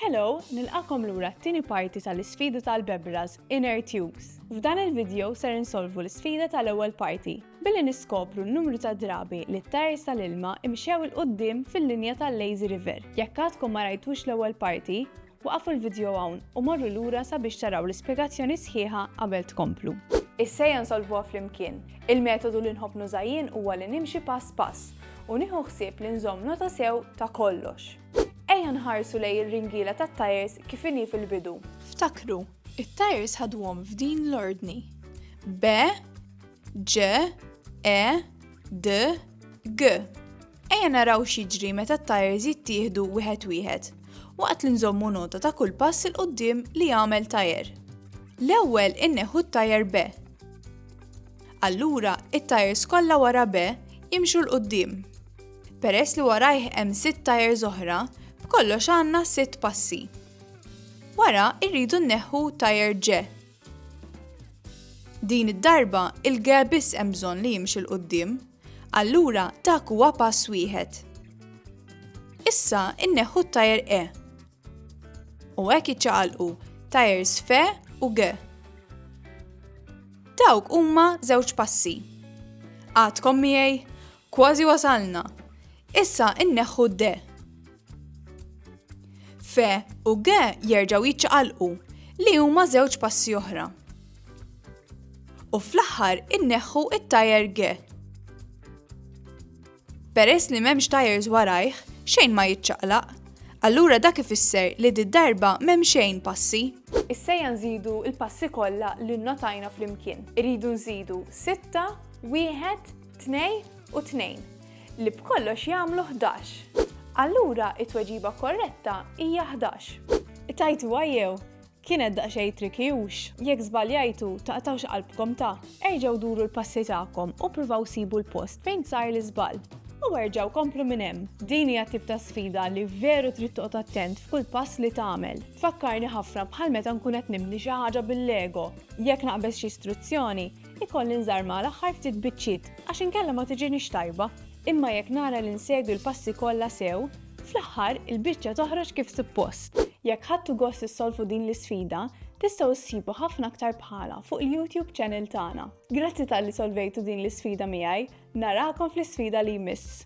Hello, nilqakom lura t-tieni parti tal-isfida tal-Bebras Inner Tubes. F'dan il-video ser insolvu l-isfida tal-ewwel parti billi niskopru n-numru ta' drabi li t-tajers tal-ilma imxew 'il quddiem fil-linja tal-lazy river. Jekk għadkom ma rajtux l-ewwel parti, waqfu l-video hawn u morru lura sabiex taraw l-ispjegazzjoni sħiħa qabel tkomplu. Issa ejja nsolvuha flimkien. Il-metodu li nħobb nuża jien huwa li nimxi pass pass u nieħu ħsieb li nżomm nota sew ta' kollox. Ejja nħarsu lejn ir-ringiela tat-tajers kif inhi fil-bidu. Ftakru, it-tajers ħaduhom f'din l-ordni. B, Ġ, E, D, G. Ejja naraw x'jiġri meta t-tajers jittieħdu wieħed wieħed waqt li nżommu nota ta' kull pass il qudiem li jagħmel tajer. L-ewwel inneħu t-tajer B. Allura, it-tajers kollha wara B jimxu l qudiem Peress li warajh hemm sitt tajers oħra, b'kollox għandna sitt passi. Wara irridu nneħħu tajer ġe. Din id-darba il-ge biss hemm bżonn li jimxi l qudiem allura dak huwa pass wieħed. Issa inneħħu t-tajer E. U hekk iċċaqalqu tajers fe u ge. Dawk huma żewġ passi. Għadkom miegħi, Kważi wasalna! Issa inneħħu d-de. Fe u ge jerġgħu jiċċaqalqu, li huma żewġ passi oħra. U fl-aħħar inneħħu it-tajer ge. Peress li m'hemmx tajers warajh, xejn ma jiċċaqlaq. Allura dak ifisser li di darba m'hemm xejn passi. Issejja nżidu l-passi kollha li nnotajna flimkien. Iridu nżidu sitta, wieħed, Tnej u tnejn, li b'kollox jagħmlu ħdax. Allura it-tweġiba korretta hija ħdax. Tajtuha jew? Kienet daqsxejn tricky hux? Jekk żbaljajtu, taqtgħux qalbkom ta! Erġgħu duru l-passi tagħkom u ppruvaw sibu l-post fejn sar l-iżball. U erġgħu komplu minn hemm. Din hija t-tip ta' sfida li veru trid toqgħod attent f'kull pass li tagħmel. Tfakkarni ħafna bħal meta nkun qed nibni xi ħaġa bil-lego. Jekk naqbeż xi struzzjoni, Ikolli nżarr mal-aħħar ftit biċċiet għax inkella ma tiġinix tajba, imma jekk nara li nsegwi l-passi kollha sew, fl-aħħar il-biċċa toħroġ kif suppost. Jekk ħadtu gost issolvu din l-isfida, tistgħu ssibu ħafna aktar bħalha fuq il-YouTube channel tagħna. Grazzi talli solvejtu din l-isfida miegħi, narakom fl-isfida li jmiss!